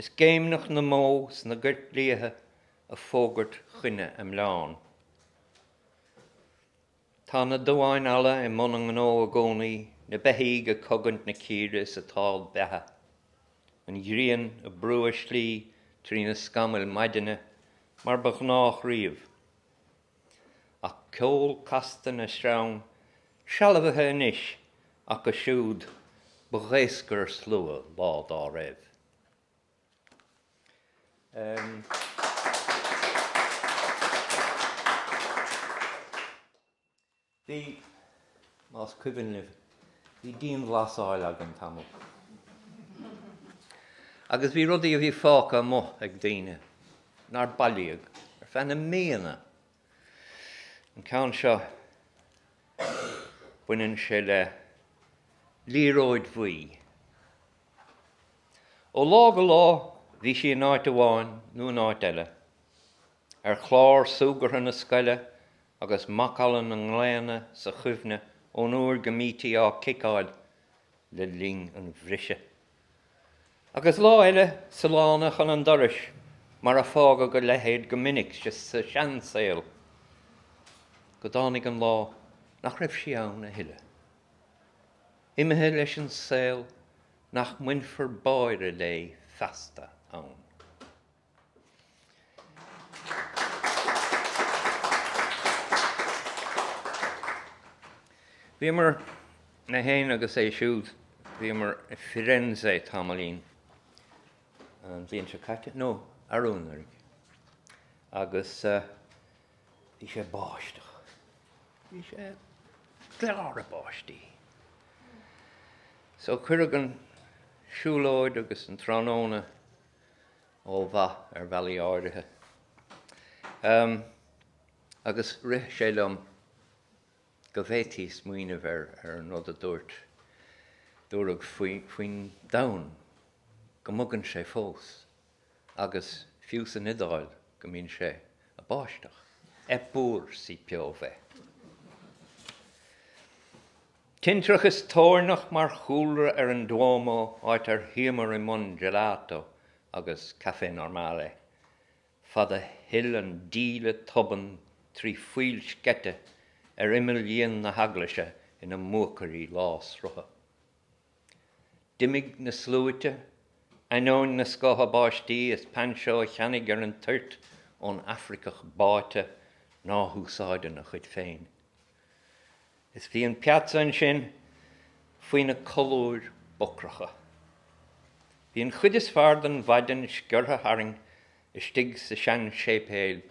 Is géimneach na mbó sna goirt liatha ag fógairt chun a mbleán. Tá na duáin alla i mbun a ngnó i gcónaí, na beithígh ag cogaint na círe is ag tál beatha, an ghrian ag brú a slí trí na scamaill maidine mar ba ghnách riamh. ach ceol casta na sreang, sealbhaithe anois acu siúd ba dhaoscarshlua lá dá raibh. Bhí, más cuimhin libh, bhí dianghlasáil againn tamall agus bhí rudaí a bhí fágtha amuigh ag daoine nár bailíodh ar feadh na míonna. An ceann seo, baineann sé le liathróid bhuí. Ó lá go lá bhí sí in áit amháin nó in áit eile. ar chlár súgartha na scoile agus macalla na nglaonna sa chuimhne ón uair go mbítí á ciceáil le linn an bhriseadh. Agus lá eile sa lána chun an dorais, mar a fágadh a leithéid go minic sa seansaol, go dtáinig an lá nach raibh sí ann a thuilleadh. Imithe leis an saol nach mbainfear báire léi feasta ann. Bhíomar mé féin agus é siúd, bhíomar i Firenze tamaillín, an bhliain seo caite, nó arú anuraidh, agus bhí sé ag báisteach, bhí sé ag gleadhradh báistí. So cuireadh an siúlóid agus an tráthnóna ó mhaith ar bhealaí áirithe. Em. agus rith sé liom go bhféadfaí smaoineamh ar an rud a dúirt, dúradh faoin domhan go mbogann sé fós agus fiú san Iodáil go mbíonn sé a' báisteach, eppur si piove! Tintreach is toirneach mar chúlra ar an Duomo áit ar shuíomar i mbun gelato agus café normale. Fad a shil an díle tobann trí phoill sceite ar imeall dhíon na heaglaise ina mbuacairí lánsrutha. D'imigh na sluaite, ainneoin na scátha báistí is painseó a cheannaigh ar an toirt ón Afraiceach báite ná húsáideann a chuid féin. Is bhí an piazza ansin faoi na colúir ocracha. Bhí an chuid is fearr den mhaidin sciorrtha tharainn istigh sa seanséipéal,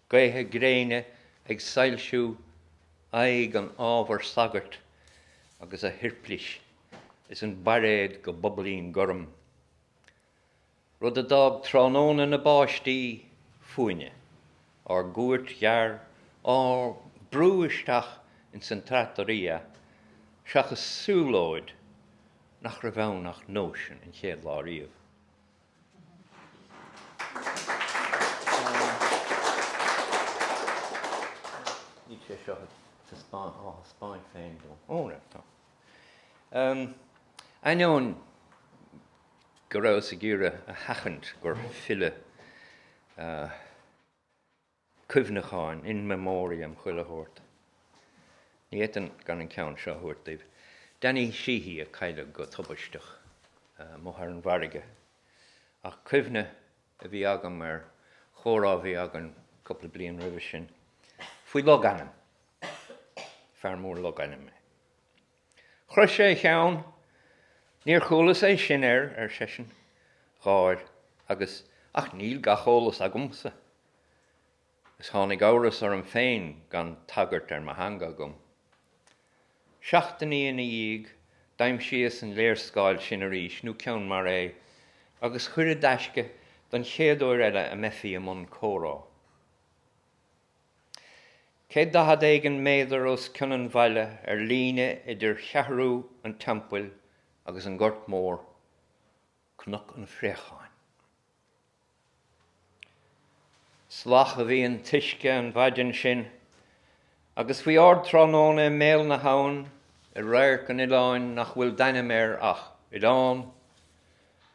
gaetha gréine ag soilsiú aghaidh an ábhair sagairt agus a shuirplís is an bairéad go bobailín gorm. rud a d'fhág tráthnóna na báistí fúinne, ár gcuairt ghearr á brú isteach ins an trattoria seachas siúlóid nach raibh ann ach nóisean an chéad lá riamh. Níl sé seo á thaispeáint féin dom. Ó, raight, tá. Ainneoin go rabhas ag iarraidh a sheachaint gur filleadh cuimhneacháin, in memoriam, chuile shórt. Ní fhéadfainn gan an ceann seo a thabhairt daoibh. Danny Sheehy a cailleadh go tubaisteach amuigh ar an bhfarraige. Ach cuimhne a bhí agam ar chomhrá a bhí againn cúpla bliain roimhe sin faoi logainm. Fear mór logainm é. Chroith sé a cheann. Níor chualas é sin air, ar seisean. Gháir. Agus, ach níl gach eolas agamsa. Is tháinig amhras orm féin gan tagairt ar mo theanga agam. Seachtainí ina dhiaidh, d'aimsíos an léarscáil sin arís, nó ceann mar é, agus chuir i dtaisce don chéad uair eile a mbeifí i mbun comhrá. 140 éigin méadar os cionn an bhaile ar líne idir Cheathrú an Teampaill agus an Gort Mór, Cnoc an Phréacháin. Salach a bhí an t-uisce an mhaidin sin agus faoi ardtráthnóna i mbéal na habhann i radharc an oileáin nach bhfuil d'ainm air ach Oileán,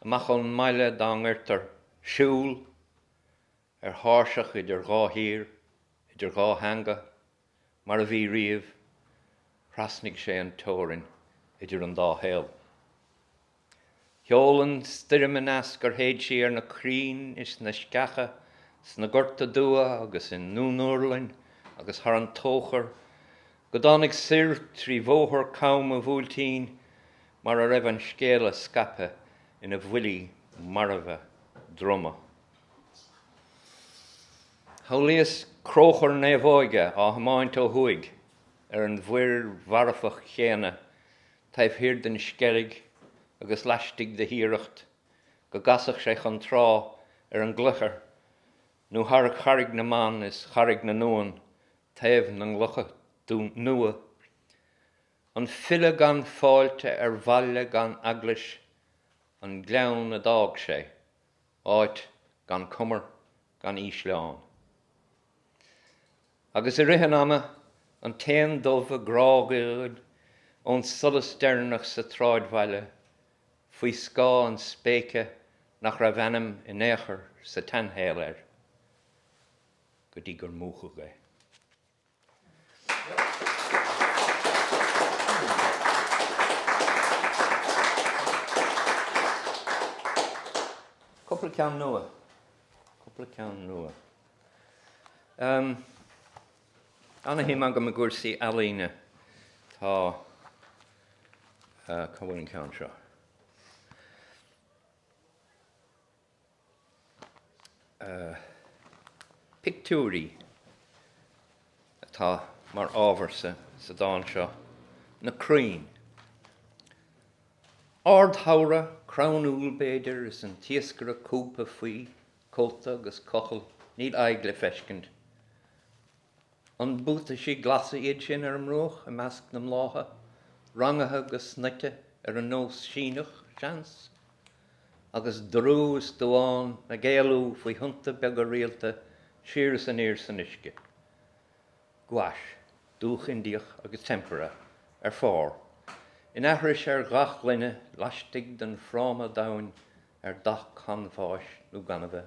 amach ón mbaile dá ngoirtear Siúl, ar thairseach idir dhá thír, idir dhá theanga, mar a bhí riamh, thrasnaigh sé an teorainn idir an dá shaol. Sheol an stoirm aneas gur shéid sí ar na crainn is na sceacha, sna Gorta Dubha agus i nDún Urlainn agus thar an Tóchar, go dtáinig soir trí bhóthar cam an Bhuailtín mar a raibh an scéala scaipthe ina bhuillí marbha druma. Shamhlaíos cróchar naomhóige á thiomáint ó thuaidh ar an mhuir mharfach chéanna taobh thiar den Sceilg agus laistigh de Thiaracht go gcasfadh sé chun trá ar an gCloichear nó thar Charraig na mBan is Charraig na nUan taobh na gclocha nua. An filleadh gan fáilte ar bhaile gan eaglais an gleann a d'fhág sé. áit gan cumar gan ísleán. Agus i rith an ama, an t-éan dubh ag grágaíl ón solas deireanach sa tsráidbhaile faoi scáth an spéice nach raibh ainm in aon chor sa tseanshaol air go dtí gur múchadh é. Cúpla ceann nua. Cúpla ceann nua. Ana-shuim agam i gcúrsaí ealaíne. Tá, cá bhfuil an ceann seo? Pictiúirí atá mar ábhar sa dán seo, na crainn. Ardshamhradh, crann úll b'fhéidir, is an t-iascaire cúbtha faoi, cóta agus cochall, níl aghaidh le feiscint. An buataisí glasa iad sin ar an mbruach i measc na mblátha, rangaithe go snoite ar an nós Síneach, seans? Agus dorú is dubhán ag éalú faoi thonnta beaga rialta siar is aniar san uisce. Gouache, dúch Indiach agus tempera ar phár, in aithris ar dhath gloine laistigh den fráma domhain ar dath canbháis nó gainimhe.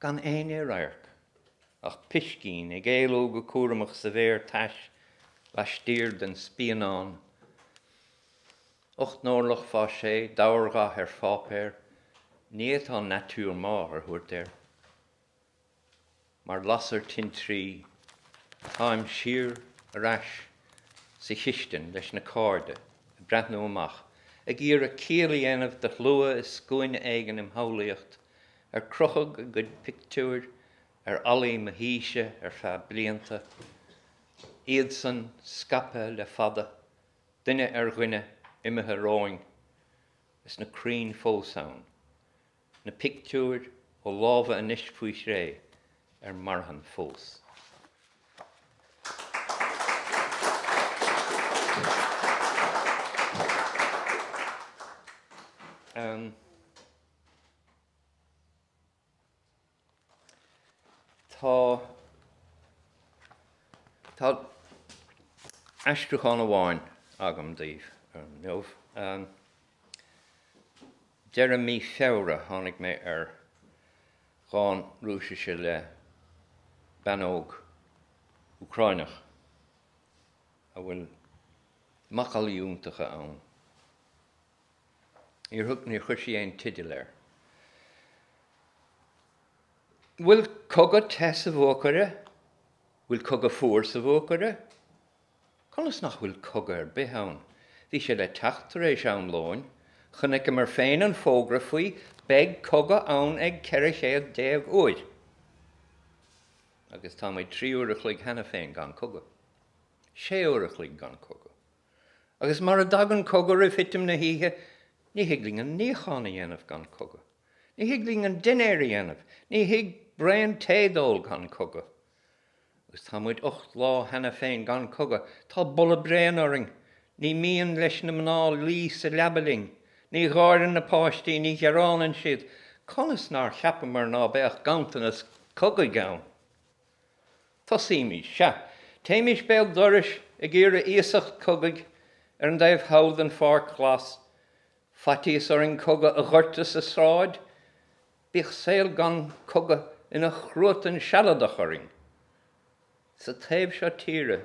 gan éinne i radharc ach piscín ag éalú go cúramach sa bhféar tais laistiar den spíonán. Ocht n-orlach fá sé dobhardhath ar pháipéar, ní fhéadfá nature morte a thabhairt air. Mar lasair tintrí, táim siar ar ais sa chistin leis na cairde ag breathnú amach, ag iarraidh ciall a dhéanamh de shlua i scuaine éigin im shamhlaíocht, ar crochadh a gcuid pictiúir ar fhallaí mo thíse ar feadh blianta, iadsan scaipthe le fada, duine ar dhuine, imithe romhainn, is na crainn fós ann, na pictiúir ó lámha anois faoi chré, ar marthain fós. Tá aistriúchán amháin agam daoibh inniu. Deireadh mí Feabhra tháinig mé ar dhán Rúisise le bean óg Úcráineach a bhfuil macallaí iontacha ann. Níor chuir sí aon teideal air. 'Bhfuil cogadh te sa bhuacaire? 'Bhfuil cogadh fuar sa bhuacaire? Conas nach bhfuil cogadh ar bith ann? Bhí sé le teacht tar éis an lóin. Chonaiceamar féin an fógra faoi 'Beidh cogadh ann ag 1400 uair! Agus tá muid trí uair a chloig cheana féin gan cogadh. Sé uair a chloig gan cogadh. Agus mara dtagann cogadh roimh thitim na hoíche, ní thig linn an níochán a dhéanamh gan cogadh. Ní thig linn an dinnéar a dhéanamh. Ní thig braon tae d'ól gan cogadh. Agus tá muid ocht lá cheana féin gan cogadh. Tá boladh bréan orainn. Ní mian leis na mná luí sa leaba linn. Ní gháireann na páistí. Ní ghearánann siad. Conas nár cheapamar ná beadh ganntanas cogaidh ann? Tosaímis, sea, téimis béal dorais ag iarraidh iasacht cogaidh ar an dtaobh thall den pháirc ghlas. Faitíos orainn cogadh a dhoirteadh sa tsráid, bíodh saol gan cogadh ina chruatan sealadach orainn. Sa taobh seo tíre,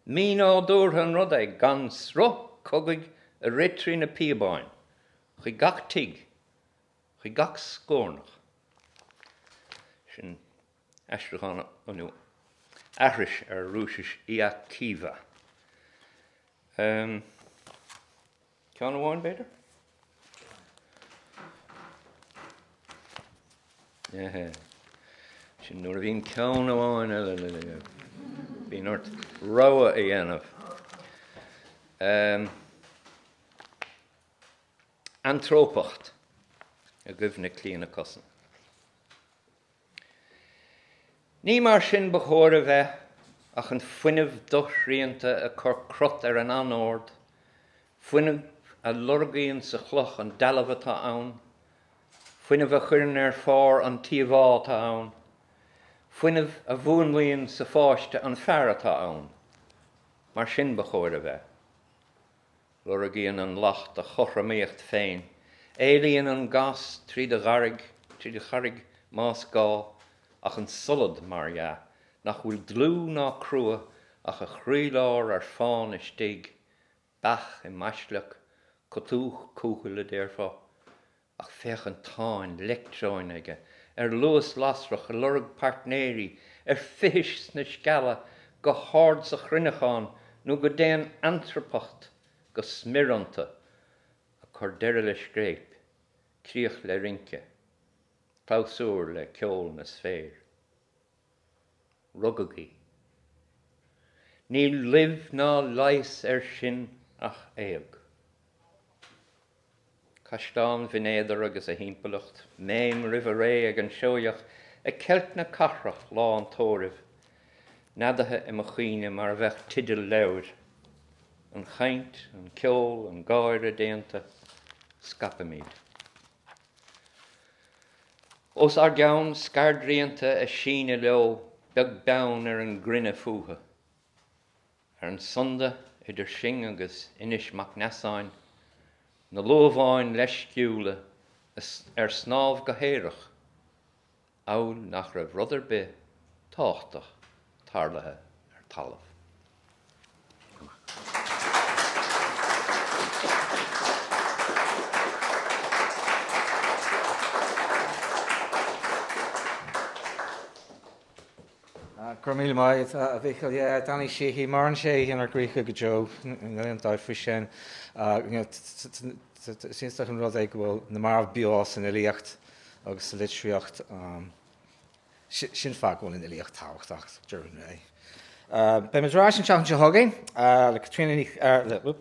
mínádúrtha an rud é gan sruth cogaidh a rith trí na píobáin, chuig gach tigh, chuig gach scórnach. Sin. aistriúchán nó aithris ar Rúisis Iya Kiva. Ceann amháin, b'fhéidir? Sin nuair a bhíonn ceann amháin eile. Bíonn ort rogha a dhéanamh. Eantrópacht i gcuimhne Clíodhna Cussen. Ní mar sin ba chóir a bheith, ach an fuinneamh doshrianta ag cur crot ar an anord, fuinneamh a lorgaíonn sa chloch an dealbh atá ann, fuinneamh a chuireann ar phár an t-íomhá atá ann, fuinneamh a mhúnlaíonn sa pháiste an fear atá ann. Mar sin ba chóir a bheith. Lorgaíonn an lacht a chothromaíocht féin, éalaíonn an gás trí do ghairg, trí do charraig, más gá, ach an solad, mar dhea, nach bhfuil dlúth ná crua ach a chroílár ar fán istigh, beach i mbaisleac, cotúch cúthail, a déarfá. Ach féach an táin leictreoin aige ar luas lasrach, ag lorg páirtnéirí ar fithis sna scealla, go hard sa chruinneachán nó go dtéann eantrópacht go smior iontu, ag cur deireadh le scréip, críoch le rince, clabhsúr le ceol na sféir. Rugadh í. Níl luibh ná leigheas air sin ach éag. Caisleán Bhinn Éadair agus a thimpeallacht, méim roimh a ré ag an Seoigheach ag ceilt na cathrach lá an tórraimh, neadaithe i mo chuimhne mar a bheadh teideal leabhair. An chaint, an ceol, an gáire déanta. Scaipimid. Os ár gceann, scairdrianta ag síneadh leo beag beann ar an gcruinne fúthu. Ar an sunda idir sinn agus Inis Mac Neasáin, na luamháin leisciúla ar snámh go haerach, amhail nach raibh rud ar bith tábhachtach tarlaithe ar talamh. Go raibh míle maith a Mhíchíl. Yeah, Danny Sheehy, maireann sé inár gcroíthe go deo, níl aon dabht faoi sin. Is iontach an rud é go bhfuil na mairbh beo san fhilíocht agus sa litríocht. Sin an fáth go bhfuil an fhilíocht tábhachtach, deireadh an lae. Beidh muid ar ais an tseachtain seo chugainn le Caitríona Ní, le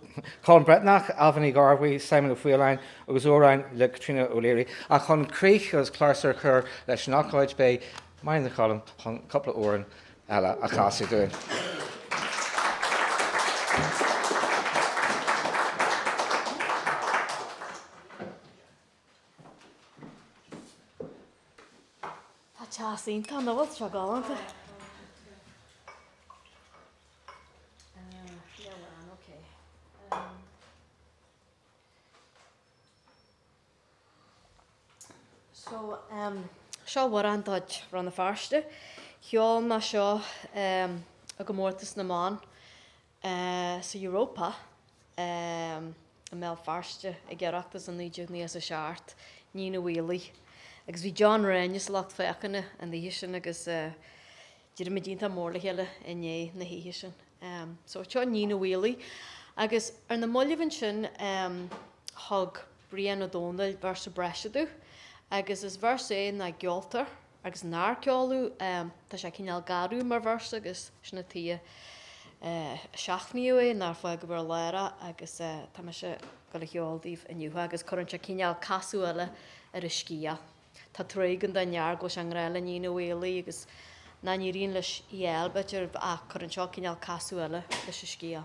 Colm Breathnach, Ailbhe Ní Ghearbhuigh, Simon Ó Faoláin agus amhráin le Caitríona O'Leary. Ach chun críoch agus clabhsúr a chur leis an ócáid, beidh Máire Ní Choilm chun cúpla amhrán eile a chasadh dúinn. Tá teas iontach ann, nach bhfuil sé galánta. So, em, seo amhrán de chuid Rann na Feirste. Cheol mé seo, em, i gcomórtas na mban ehm, sa Europa, ehm, i mBéal Feirste, ag Oireachtas i 1997, Níon an Bhaoilligh agus bhí John Ghráinne sa lucht féachana an oíche sin agus eh, d'éirigh muid iontach mór le chéile i ndiaidh na hoíche sin. Ehm, so seo Níon an Bhaoilligh agus ar na mallaibh ansin, ehm, thug Brian Ó Domhnaill véarsa breise domh agus is véarsa é nach gceoltar, agus nár ceoladh, tá sé cineál garbh mar verse agus sin an tuige ar seachnaíodh é, nó ar fágadh ar lár é agus tá mise ag gabháil á cheol daoibh inniu agus cuireann sé cineál casadh eile ar an scéal. Tá trua againn don fhear go bhfuil sé i ngrá le Níon an Bhaoilligh agus nach n-éiríonn leis í a fháil b'fhéidir ach cuireann seo cineál casadh eile leis an scéal.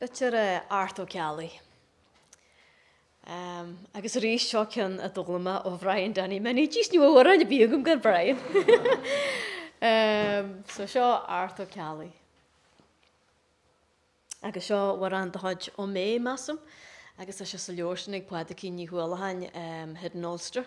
Litir Art Ó Ceallaigh. Agus arís, seo ceann a d'fhoghlaim mé ó Bhrian Danny Minnie. Just ní bheadh amhrán ar bith agam gan Brian. So seo Art Ó Ceallaigh. Agus seo amhrán de chuid Ó Méith, measaim, agus tá sé sa leabhar sin ag Pádraigín Ní Uallacháin, Hidden Ulster.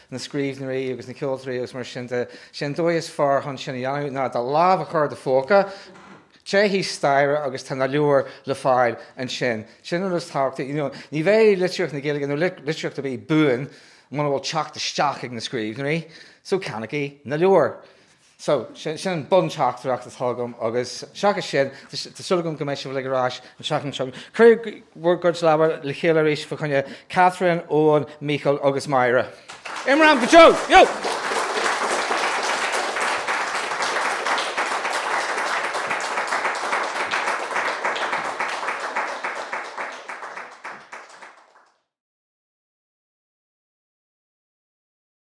na scríbhneoirí agus na ceoltóirí agus mar sin de, sé an dóigh is fearr chun sin a dhéanamh ná do lámh a chur i do phóca, téigh thíos staighre agus tá na leabhair le fáil ansin. Sin an rud is tábhachtaí, you know. Ní bheidh litríocht na Gaeilge, nó litríocht ar bith, buan muna bhfuil teacht isteach ag na scríbhneoirí, so ceannaigí na leabhair. So, sin an bun-teachtaireacht atá agam agus seachas sin, tá súil agam go mbeidh sibh uilig ar ais an seachtain seo. Cuir bhur gcuid lámha le chéile arís fá choinne Catherine, Eoghan, Mícheál agus Máire. Imram go deo! Yo!